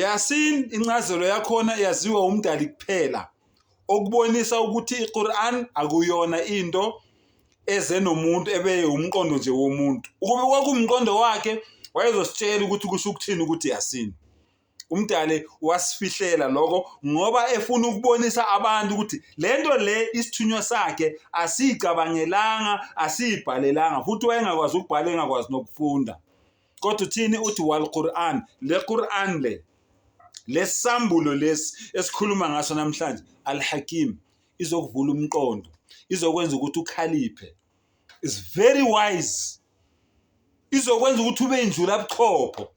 Yasin incazelo yakhona yaziwa umdali kuphela okubonisa ukuthi iQuran akuyona into eze nomuntu ebe umqondo nje womuntu ukube kwakumqondo wakhe wayezositshela ukuthi kusho ukuthini ukuthi Yasin umdali wasifihlela lokho ngoba efuna ukubonisa abantu ukuthi lento le isithunywa sakhe asiyicabangelanga asiyibhalelanga futhi wayengakwazi ukubhala engakwazi nokufunda kodwa uthini uthi wal Quran le Quran le lesambulo lesi esikhuluma ngaso namhlanje al hakim izokuvula umqondo izokwenza ukuthi ukhaliphe is very wise izokwenza ukuthi ube injula buchopho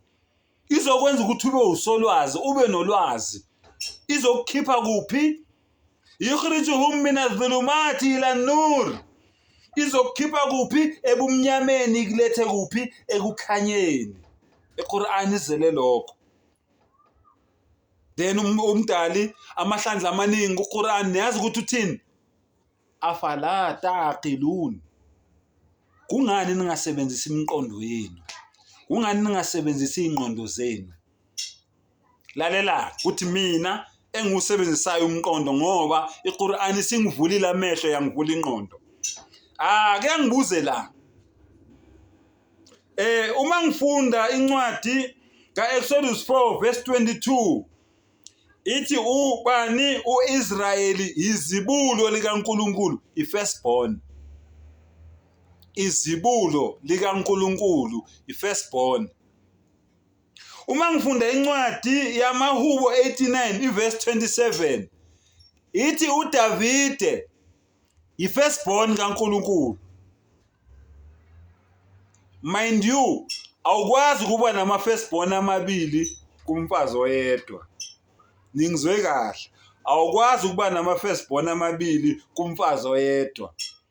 izokwenza ukuthi ube usolwazi ube nolwazi izokukhipha kuphi yukhrijuhum min adh-dhulumati ila an-nur izokukhipha kuphi ebumnyameni ikulethe kuphi ekukhanyeni iQur'an izele lokho then um- umdali amahlandla amaningi kuQur'an niyazi ukuthi uthini afala taqilun kungani ningasebenzisi imiqondo yenu kungani ningasebenzisi ingqondo zenu lalela kuthi mina engiwusebenzisayo umqondo ngoba iQur'an isingivulile amehlo yangivula inqondo ah ke ngibuze la eh uma ngifunda incwadi kaExodus 4 verse 22 ithi ubani uIsrayeli izibulo likaNkuluNkulu ifirstborn izibulo likaNkuluNkulu ifirstborn uma ngifunda incwadi yamahubo 89 ivesi 27 ithi udavide yi-firstborn kankulunkulu mind you awukwazi ukuba nama-firstborn amabili kumfazi oyedwa ningizwe kahle awukwazi ukuba nama-firstborn amabili kumfazi oyedwa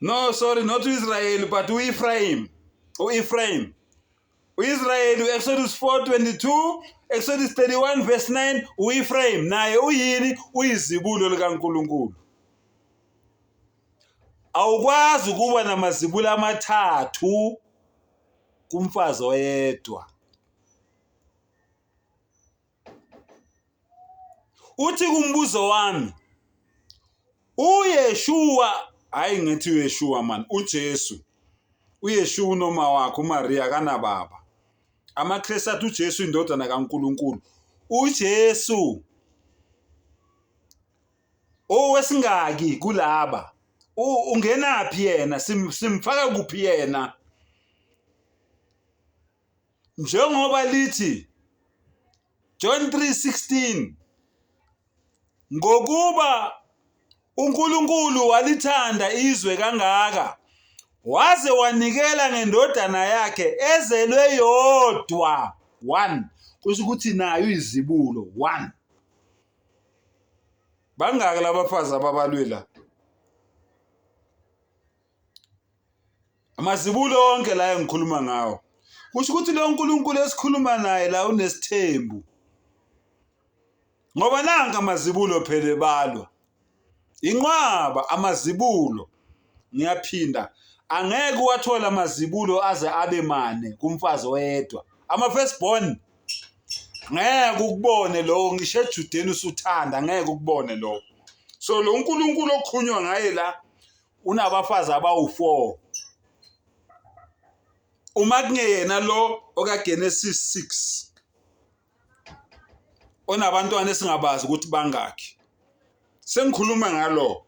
no sorry not uIsrael but uEphraim uEphraim uIsrael uExodus 4:22 Exodus 31 verse 9 uEphraim naye uyini uyizibulo likaNkuluNkulu awukwazi ukuba namazibulo amathathu kumfazi oyedwa uthi kumbuzo wami uyeshuwa hayi ngithi uyeshuwa mani ujesu uyeshuwa unoma wakhe umariya kanababa amakristu athi ujesu indodana kankulunkulu ujesu owesingaki kulaba ungenaphi yena simfaka kuphi yena njengoba lithi John 3:16 ngokuba uNkulunkulu walithanda izwe kangaka waze wanikela ngendodana yakhe ezelwe yodwa one kusho ukuthi nayo izibulo one bangaki labafazi ababalwe la Amazibulo onke la engikhuluma ngawo. Kusho ukuthi lo Nkulunkulu esikhuluma naye la unesithembu. Ngoba nanka amazibulo phela ebalwa. Inqwaba amazibulo. Ngiyaphinda angeke uwathole amazibulo aze abe mane kumfazi oyedwa. Ama first born ngeke ukubone lowo ngisho ejudeni usuthanda ngeke ukubone lowo. So lo Nkulunkulu okhunywa ngaye la unabafazi abawu-4 uma kungeyena lo okaGenesis 6 onabantwana esingabazi ukuthi bangakhi sengikhuluma ngalo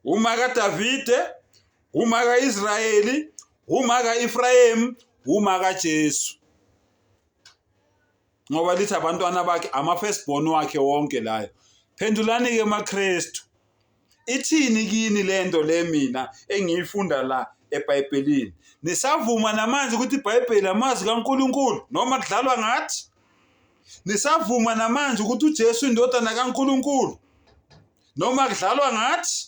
uma kaDavide uma kaIsrayeli uma kaEfrayim uma kaJesu ngoba lithi abantwana bakhe ama-first born wakhe wonke layo phendulani-ke makristu ithini kini le nto le mina engiyifunda la ebhayibhelini nisavuma namanje ukuthi ibhayibheli amazwi kankulunkulu noma kudlalwa ngathi nisavuma namanje ukuthi ujesu indodana kankulunkulu noma kudlalwa ngathi